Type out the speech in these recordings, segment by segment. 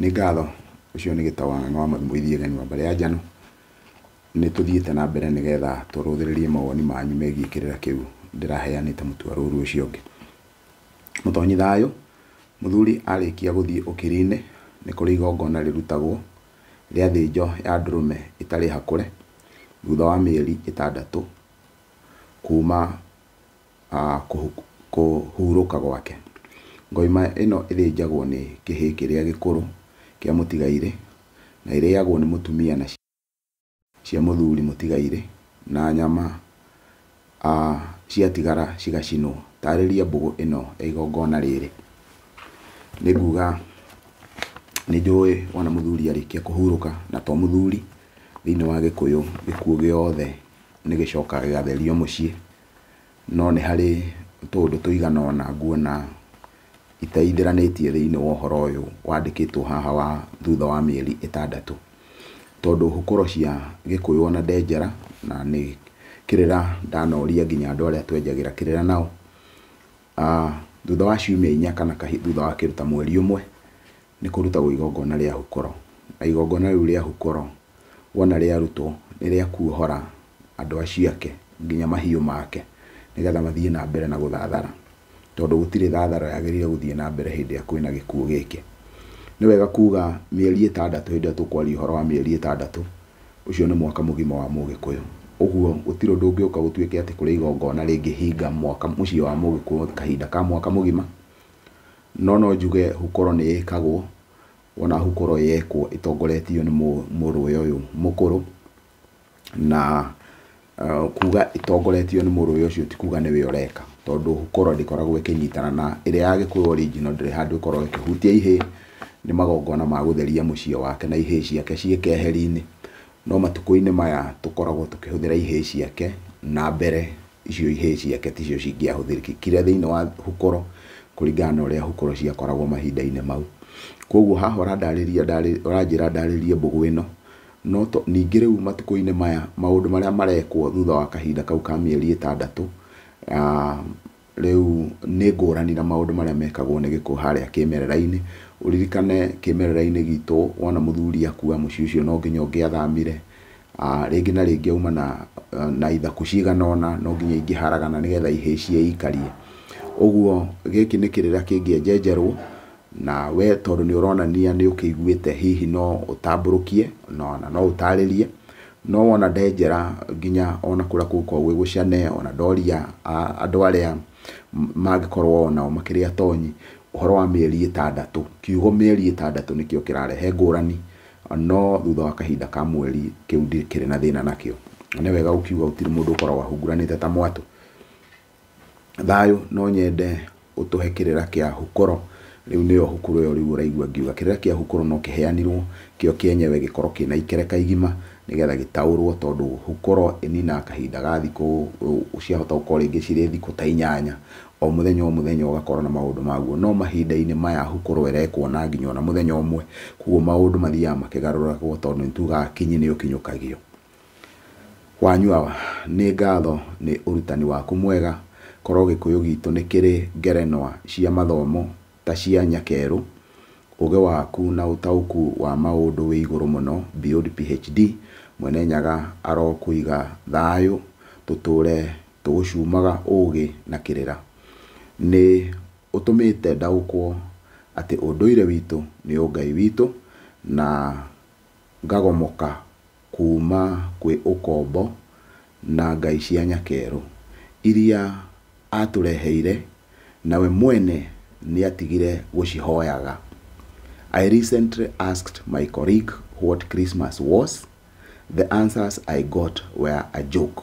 Nĩ ngatho, ũcio nĩ gĩtawa na nĩ wa Mwalimu Ithiĩ Gani wa mbarĩ ya Njano. Nĩ tũthiĩte na mbere nĩ getha tũrũthĩrĩrie mawoni manyu megiĩ kĩrĩra kĩu ndĩraheanĩte mũtwe rũru ũcio ũngĩ. Mũtonyi thayũ, mũthuri arĩkia gũthiĩ ũkiri-inĩ, nĩ kũrĩ igongona rĩrutagwo rĩa thĩnjo ya ndũrũme ĩtarĩ hakũre, thutha wa mĩeri ĩtandatũ kuma kũhurũka gwake. Ngoima ĩno ĩthĩnjagwo nĩ kĩhĩĩ kĩrĩa gĩkũrũ kĩa mũtigairĩ, na ĩrĩagwo nĩ mũtumia na ciana cia mũthuri mũtigairĩ, na nyama ciatigara cigacinwo. Taarĩria mbũgũ ĩno ya igongona rĩrĩ. Nĩ nguuga nĩ njũĩ wona mũthuri arĩkia kũhurũka, na to mũthuri, thĩinĩ wa Gĩkũyũ gĩkuũ gĩothe nĩ gĩcokaga gĩgatherio mũciĩ. no nĩ harĩ tũũndũ tũigana ũna nguona itaithĩranĩtie thĩinĩ wa ũhoro ũyũ wandĩkĩtwo haha wa thutha wa mĩeri ĩtandatũ. Tondũ hũkũro cia Gĩkũyũ ona ndenjera, na nĩ kĩrĩra ndanoria nginya andũ arĩa twenjagĩra kĩrĩra nao, thutha wa ciumia inya kana thutha wa kĩndũ ta mweri ũmwe, Nĩ kũrutagwo igongona rĩa hukoro. Na igongona rĩu rĩa hukoro wona rĩarutwo nĩ rĩa kuohora andũ acio ake nginya mahiũ make nĩ getha mathiĩ na mbere na gũthathara, tondũ gũtirĩ thathara yagĩrĩire gũthiĩ na mbere hĩndĩ ĩrĩa kwĩna gĩkuũ gĩkĩ. Nĩ wega kuuga mĩeri ĩtandatũ hĩndĩ ĩrĩa tũkwaria ũhoro wa mĩeri ĩtandatũ, ũcio nĩ mwaka mũgima wa Mũgĩkũyũ. Ũguo gũtirĩ ũndũ ũngĩũka gũtuĩke atĩ kũrĩ igongona rĩngĩhinga mwaka mũciĩ wa Mũgĩkũyũ kahinda ka mwaka mũgima, No no njuge hukoro nĩ ĩkagwo, wona hukoro yekwo ĩtongoretio nĩ mũrũwe ũyũ mũkũrũ, na kuga ĩtongoretio nĩ mũrũwe ũcio ti kuga nĩwe ũreka, tondũ hukoro ndĩkoragwo ĩkĩnyitana na ĩrĩa ya gĩkũyũ original ndĩrĩ handũ ĩkoragwo ĩkĩhutia ihĩĩ, nĩ magongona ma gũtheria mũciĩ wake na ihĩĩ ciake ciĩ keheri-inĩ, no matukũ-inĩ maya tũkoragwo tũkĩhũthĩra ihĩĩ ciake na mbere. icio ihĩĩ ciake ticio cingĩahũthĩkire thĩinĩ wa hukoro kũringana na ũrĩa hukoro ciakoragwo mahinda-inĩ mau. Koguo haha ũrandarĩria ũranjĩra ndarĩrie mbũgũ ĩno, no to ningĩ rĩu matukũ-inĩ maya maũndũ marĩa marekwo thutha wa kahinda kau ka mĩeri ĩtandatũ, rĩu nĩ ngũrani na maũndũ marĩa mekagwo nĩ gĩkũ harĩa kĩmerera-inĩ. Ũririkane kĩmerera-inĩ gitũ wona mũthuri akua mũciĩ ũcio no nginya ũngĩathamire, Rĩngĩ na rĩngĩ auma na ithaku cigana ũna, no nginya ingĩharagana nĩgetha ihĩhie ikarie. Ũguo gĩkĩ nĩ kĩrĩra kĩngĩenjenjerwo, na we tondũ nĩ ũronania nĩ ũkĩiguĩte hihi no ũtambũrũkie, ona no ũtarĩrie, no wona ndenjera nginya ona kũrĩa kũngĩkorwo gwĩ gũcane, ona ndoria andũ arĩa mangĩkorwo onao makĩrĩ atonyi, ũhoro wa mĩeri ĩtandatũ. Kiugo mĩeri ĩtandatũ nĩkĩo kĩrarehe ngũrani, No thutha wa kahinda ka mweri, kĩu ndikĩrĩ na thĩna nakĩo. Na nĩ wega gũkiuga gũtirĩ mũndũ ũkoragwo ahunguranĩte ta mwatũ. Thayũ, no nyende ũtũhe kĩrĩra kĩa Hukoro. Rĩu nĩyo Hukuro ĩyo rĩu ũraigua ngiuga. Kĩrĩra kĩa Hukuro no kĩheanirwo kĩo kĩenyewe gĩkorwo kĩna ikereka igima nĩgetha gĩtaũrwo tondũ Hukuro ĩninaga kahinda ga thikũ, ciahota gũkorwo rĩngĩ cirĩ thikũ ta inyanya. o mũthenya o mũthenya ũgakorwo na maũndũ maguo, no mahinda-inĩ maya ahu kũroerekwo na nginya ona mũthenya ũmwe, koguo maũndũ mathiaga makĩgarũragwo tondũ nĩ tugaga akinyi nĩ ũkinyũkagio. Wanyua nĩ ngatho nĩ ũrutani waku mwega, korwo gĩkũyũ gitũ nĩ kĩrĩ ngerenwa cia mathomo ta cia nyakerũ, ũgĩ waku na ũtaũku wa maũndũ wĩ igũrũ mũno beyond PHD, Mwene Nyaga arokũiga thayũ tũtũre Tũgũcuumaga ũũgĩ na kĩrĩra. Nĩ ũtũmĩte ndaũkwo atĩ ũndũire witũ nĩ ũngai witũ na ngagomoka kuuma kwĩ ũkombo na ngai cia nyakerũ iria aatũreheire na we mwene nĩ atigire gũcihoyaga. I recently asked my colleague what Christmas was, the answers I got were a joke.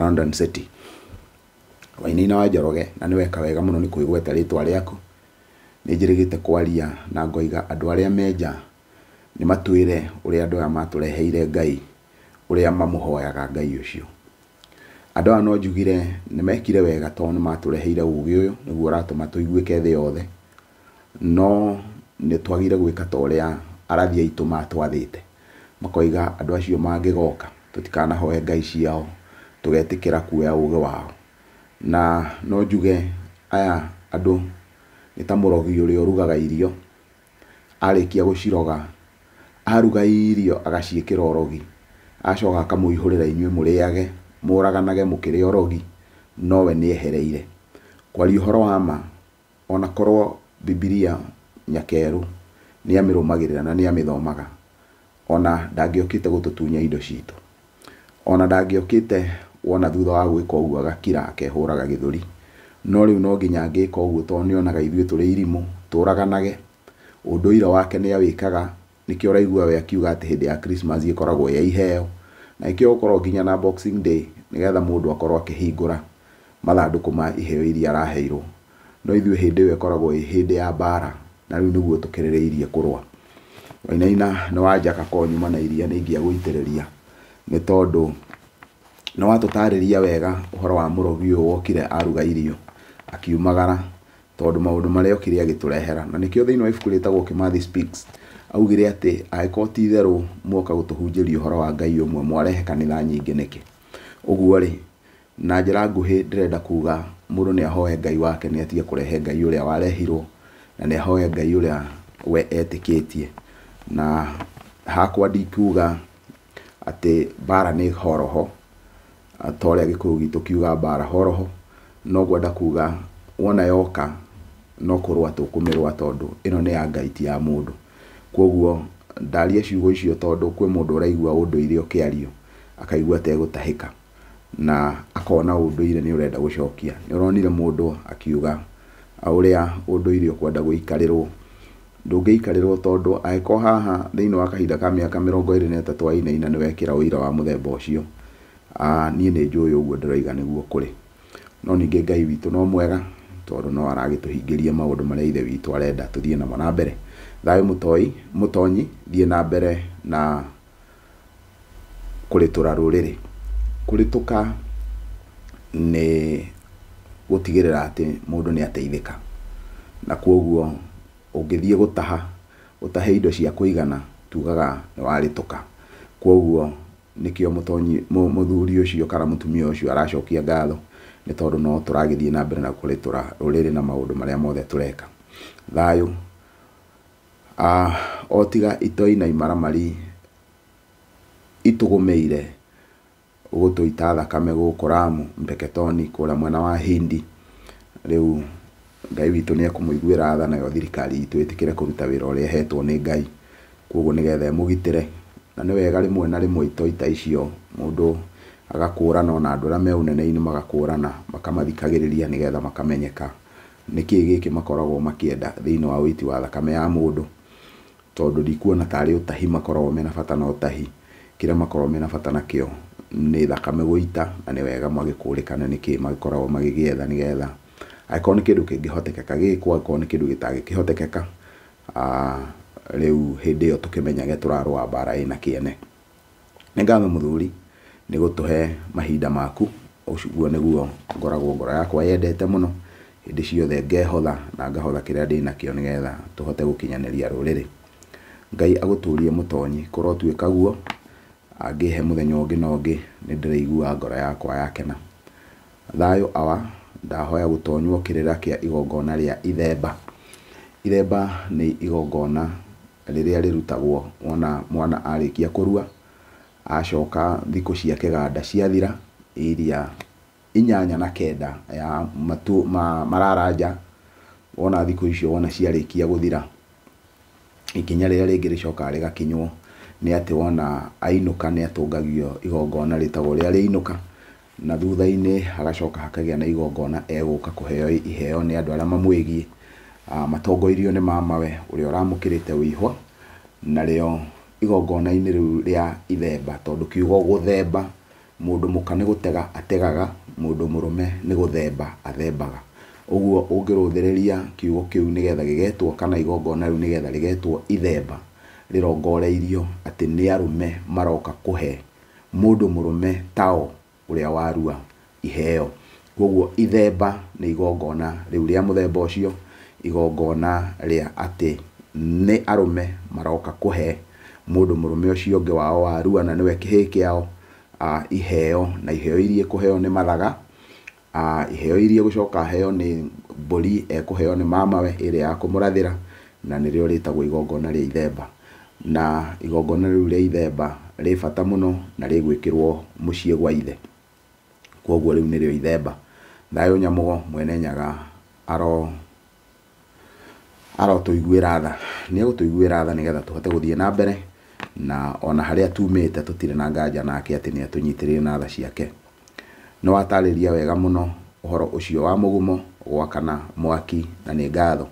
London City. Wainaina wa Njoroge, na nĩweka wega mũno nĩ kwĩgweta rĩtwa rĩaku. Nĩnjĩrĩgĩte kwaria na ngoiga andũ arĩa me nja nĩmatwĩre ũrĩa andũ aya matũreheire Ngai, ũrĩa mamũhoyaga Ngai ũcio. Andũ aya no njugire nĩmekire wega tondũ nĩmatũreheire ũgĩ ũyũ, nĩguo ũratũma tũiguĩke thĩ yothe. No nĩ twagĩrĩire gwĩka ta ũrĩa arathi aitũ maatwathĩte. Makoiga andũ acio mangĩgoka tũtikanahoe ngai ciao, tũgetĩkĩra kuoya ũũgĩ wao. Na no njuge aya andũ nĩ ta mũrogi ũrĩa ũrugaga irio, arĩkia gũciroga, aruga irio agaciĩkĩra ũrogi, acoka akamũihũrĩra inyuĩ mũrĩage, mũũraganage mũkĩrĩ orogi, no we nĩ ehereire. Kwaria ũhoro wa ma, O na korũo Bibilia nyakeerũ nĩ amĩrũmagĩrĩra na nĩ amĩthomaga, o na ndangĩokĩte gũtũtunya indo citũ. O na ndangĩokĩte wona thutha wa gwĩka ũguo agakira akehũraga gĩthũri. No rĩu no nginya angĩka ũguo tondũ nĩ onaga ithuĩ tũrĩ irimũ, tũũraganage. Ũndũire wake nĩ awĩkaga Nĩkĩo ũraigua we akiuga atĩ hĩndĩ ya Christmas ĩkoragwo ĩ ya iheo, na ĩkĩo gũkorwo nginya na Boxing Day nĩgetha mũndũ akorwo akĩhingũra mathandũkũ ma iheo iria araheirwo. No ithuĩ hĩndĩ ĩyo ĩkoragwo ĩ hĩndĩ ya mbara na rĩu nĩguo tũkĩrĩrĩirie kũrũa. Wainaina nĩ wanjaka ko nyuma na iria nĩ ingĩagũitĩrĩria nĩ tondũ nĩ watũtarĩria wega ũhoro wa mũrogi ũyũ wokire aruga irio akiumagara tondũ maũndũ marĩa okire agĩtũrehera. Na nĩkĩo thĩinĩ wa ibuku rĩtagwo Kimathi Speaks, augire atĩ angĩkorwo ti itherũ muoka gũtũhunjĩria ũhoro wa Ngai ũmwe, mwarehe kanitha nyingĩ nĩkĩ? Ũguo rĩ, na njĩra nguhĩ ndĩrenda kuga mũndũ nĩ ahoe Ngai wake nĩ atige kũrehe Ngai ũrĩa warehirwo, na nĩ ahoe Ngai ũrĩa we etĩkĩtie. Na hakwa ndikuga atĩ mbara nĩ horoho, ta ũrĩa gĩkũyũ gitũ kiuga mbara horoho, no ngwenda kuga wona yoka no kũrũa tũkũmĩrũa tondũ ĩno nĩ ya Ngai ti ya mũndũ. Kũguo ndaria ciugo icio tondũ kwĩ mũndũ ũraigua ũndũire ũkĩario akaigua ategũtahĩka. na akona ũndũire nĩ ũrenda gũcokia. Nĩ ũronire mũndũ akiuga ũrĩa ũndũire ũkwenda gũikarĩrwo. Ndũngĩikarĩrwo tondũ angĩkorwo haha thĩinĩ wa kahinda ka mĩaka mĩrongo ĩrĩ na ĩtatũ wainaina nĩ wekĩra ũira wa mũthemba ũcio, niĩ nĩ njũĩ ũguo ndĩroiga nĩguo kũrĩ. No ningĩ Ngai witũ no mwega tondũ no aragĩtũhingĩria maũndũ marĩa Ithe witũ arenda tũthiĩ namo na mbere. Thayũ mũtoi, mũtonyi, thiĩ na mbere na... kũrĩtũra rũrĩrĩ. Kũrĩtũka nĩ gũtigĩrĩra atĩ mũndũ nĩ ateithĩka, na kwoguo ũngĩthiĩ gũtaha ũtahe indo cia kũigana tugaga nĩ warĩtũka. Kwoguo nĩkĩo mũthuri ũcio kana mũtumia ũcio aracokia ngatho nĩ tondũ no tũragĩthiĩ na mbere na kũrĩtũra rũrĩrĩ na maũndũ marĩa mothe tũreka. Thayũ. Aah o tiga itoi na imaramari itũgũmĩire gũtũita thakame gũkũ Lamu, Mpeketoni kũrĩa mwena wa Hindi, rĩu Ngai witũ nĩ ekũmũiguĩra tha nayo thirikari itũ ĩtĩkĩre kũruta wĩra ũrĩa ĩhetwo nĩ Ngai, kwoguo nĩgetha ĩmũgitĩre, na nĩ wega rĩmwe na rĩmwe itoi ta icio mũndũ agakũrana ona andũ arĩa me ũnene-inĩ magakũrana, makamathikagĩrĩria nĩgetha makamenyeka Nĩ kĩĩ gĩkĩ makoragwo makĩenda thĩinĩ wa ũiti wa thakame ya mũndũ? Tondũ ndikuona ta arĩ ũtahi makoragwo mena bata na ũtahi. Kĩrĩa makoragwo mena bata nakĩo nĩ thakame gũita na nĩ wega magĩkũrĩkane nĩ kĩĩ magĩkoragwo magĩgĩetha nĩ getha angĩkorwo nĩ kĩndũ kĩngĩhotekeka gĩkwo angĩkorwo nĩ kĩndũ gĩtangĩkĩhotekeka rĩu hĩndĩ ĩyo tũkĩmenyage tũrarũa mbara ĩna kĩene. Nĩ ngatho mũthuri nĩ gũtũhe mahinda maku, ũguo nĩguo ngoragwo ngoro yakwa yendete mũno, hĩndĩ ciothe ngehotha na ngahotha kĩrĩa ndĩnakĩo nĩgetha tũhote gũkinyanĩria rũrĩrĩ. Ngai agũtũrie mũtonyi, kũrotuĩka guo, angĩhe mũthenya ũngĩ na ũngĩ nĩ ndĩrĩiguaga ngoro yakwa yakena. Thayũ awa, ndahoya gũtonywo kĩrĩra kĩa igongona rĩa ithemba. Ithemba nĩ igongona Rĩrĩa rĩrutagwo wona mwana arĩkia kũrua, acoka thikũ cia kĩganda ciathira, iria inyanya na kenda ya matũ ma marara nja, wona thikũ icio wona ciarĩkia gũthira, ikinya rĩrĩa rĩngĩ rĩcokaga rĩgakinywo nĩ atĩ wona ainũka nĩatũngagio igongona rĩtagwo rĩa rĩainũka, na thutha-inĩ hagacoka hakagĩa na igongona egũka kũheo iheo nĩ andũ arĩa mamwĩgiĩ, matongoirio nĩ mamawe ũrĩa ũramũkĩrĩte ũihwa, narĩo igongona-inĩ rĩu rĩa ithemba, tondũ kiugo gũthemba, mũndũ mũka nĩ gũtega ategaga, mũndũ mũrũme nĩ gũthemba athembaga. Ũguo ũngĩrũthĩrĩria kiugo kĩu nĩgetha gĩgetwo kana igongona rĩu nĩgetha rĩgetwo ithemba, rĩrongoreirio atĩ nĩ arũme maroka kũhe Mũndũ mũrũme Tao ũrĩa warua iheo. Kwoguo ithemba nĩ igongona rĩu rĩa mũthemba ũcio, igongona rĩa atĩ nĩ arũme maroka kũhe mũndũ mũrũme ũcio ũngĩ wao warua na nĩwe kĩhĩĩ kĩao iheo, na iheo iria ikũheo nĩ mathaga, A, iheo iria igũcoka aheo nĩ mbũri ekũheo nĩ mamawe ĩrĩ ya kũmũrathĩra, na nĩrĩo rĩtagwo igongona rĩa ithemba. Na igongona rĩu rĩa ithemba rĩ bata mũno na rĩgwĩkĩrwo mũciĩ gwa ithe. Kwoguo rĩu nĩrĩo ithemba. Thayũ Nyamũgo, Mwene Nyaga, aro. Arotũiguĩra tha, nĩ egũtũiguĩra tha nĩgetha tũhote gũthiĩ na mbere, na ona harĩa tumĩte tũtirĩ na nganja nake atĩ nĩ atũnyitĩrĩire na tha ciake. Nĩ watarĩria wega mũno ũhoro ũcio wa mũgumo, gwakana, mwaki na nĩ ngatho.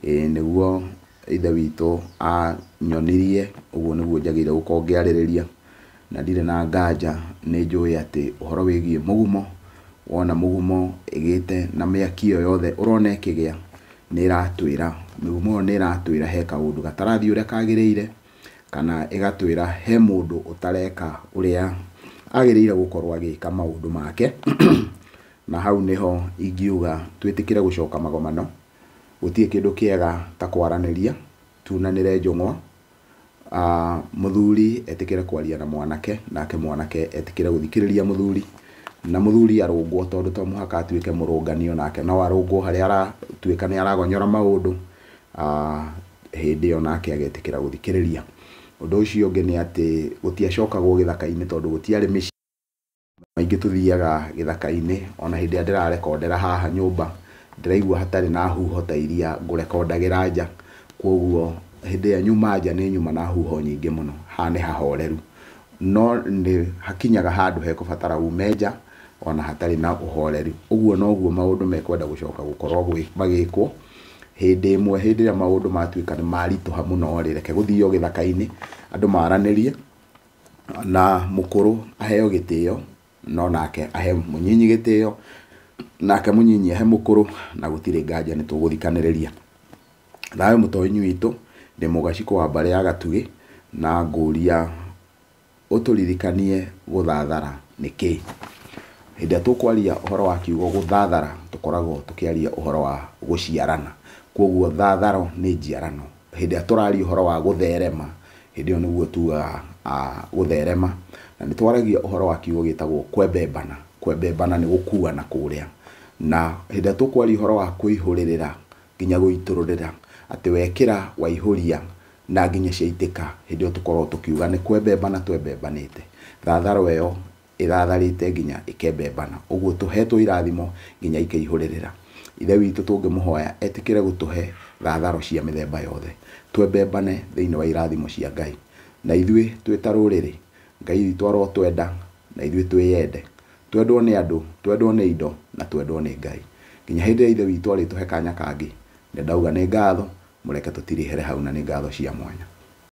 Ĩĩ nĩguo Ithe witũ anyonirie, ũguo nĩguo njagĩrĩirwo gũkorwo ngĩarĩrĩria. na ndirĩ na nganja nĩ njũĩ atĩ ũhoro wĩgiĩ mũgumo, wona mũgumo ĩgĩte na mĩaki ĩyo yothe ũrona ĩkĩgĩa nĩ ĩratwĩra, mĩgumo ĩyo nĩ ĩratwĩra he kaũndũ gatarathiĩ ũrĩa kagĩrĩire, kana ĩgatwĩra he mũndũ ũtareka ũrĩa agĩrĩire gũkorwo agĩka maũndũ make, na hau nĩho ingiuga twĩtĩkĩre gũcoka magomano, gũtirĩ kĩndũ kĩega ta kwaranĩria, tunanĩre njũng'wa, Mũthuri etĩkĩre kwaria na mwanake, nake mwanake etĩkĩre gũthikĩrĩria mũthuri, na mũthuri arũngwo tondũ to mũhaka atuĩke mũrũngani, o nake no arũngwo harĩa aratuĩka nĩ aragonyora maũndũ, hĩndĩ ĩyo nake agetĩkĩra gũthikĩrĩria. Ũndũ ũcio ũngĩ nĩ atĩ gũtiacokagwo gĩthaka-inĩ tondũ gũtiarĩ mĩciĩ. Maingĩ tũthiaga gĩthaka-inĩ, o na hĩndĩ ĩrĩa ndĩrarekondera haha nyũmba, ndĩraigua hatarĩ na huho ta iria ngũrekondagĩra nja, kwoguo hĩndĩ ĩrĩa nyuma nja nĩ nyuma na huho nyingĩ mũno, haha nĩ hahoreru. No nĩ hakinyaga handũ hekũbatara ume nja o na hatarĩ na ũhoreru. Ũguo noguo maũndũ mekwenda gũcoka gũkorwo magĩkwo, hĩndĩ ĩmwe hĩndĩ ĩrĩa maũndũ matuĩka nĩ maritũha mũno-rĩ, reke gũthio gĩthaka-inĩ, andũ maranĩrie, Na mũkũrũ aheo gĩtĩo, no nake ahe mũnyinyi gĩtĩo, nake mũnyinyi ahe mũkũrũ, na gũtirĩ nganja nĩ tũgũthikanĩrĩria. Thayũ mũtoinyi witũ, ndĩ mũgacikũ wa mbarĩ ya Gatugĩ, na ngũria ũtũririkanie gũthathara nĩ kĩĩ. Hĩndĩ ĩrĩa tũkwaria ũhoro wa kiugo gũthathara, tũkoragwo tũkĩaria ũhoro wa gũciarana. Koguo thatharo nĩ njiarano. Hĩndĩ ĩrĩa tũraria ũhoro wa gũtherema, hĩndĩ ĩyo nĩguo tugaga gũtherema. Na nĩ twaragia ũhoro wa kiugo gĩtagwo kwembembana. Kwembembana nĩ gũkuana kũrĩa. Na hĩndĩ ĩrĩa tũkwaria ũhoro wa kũihũrĩrĩra nginya gũitũrũrĩra, atĩ wekĩra, waihũria na nginya ciaitĩka, hĩndĩ ĩyo tũkoragwo tũkiuga nĩ kwembembana twembembanĩte. Thatharwa ĩyo ĩthatharĩte nginya ĩkembembana. Ũguo tũheetwo irathimo nginya ikeihũrĩrĩra. Ithe witũ tũngĩmũhoya etĩkĩre gũtũhe thatharo cia mĩthemba yothe, twembembane thĩinĩ wa irathimo cia Ngai. Na ithuĩ twĩ ta rũrĩrĩ, Ngai witũ arotwenda na ithuĩ twĩyende, twendwo nĩ andũ, twendwo nĩ indo, na twendwo nĩ Ngai. Nginya hĩndĩ ĩrĩa Ithe witũ arĩtũhe kanya kangĩ, nĩ ndauga nĩ ngatho, mũreke tũtirihĩre hau na nĩ ngatho cia mwanya.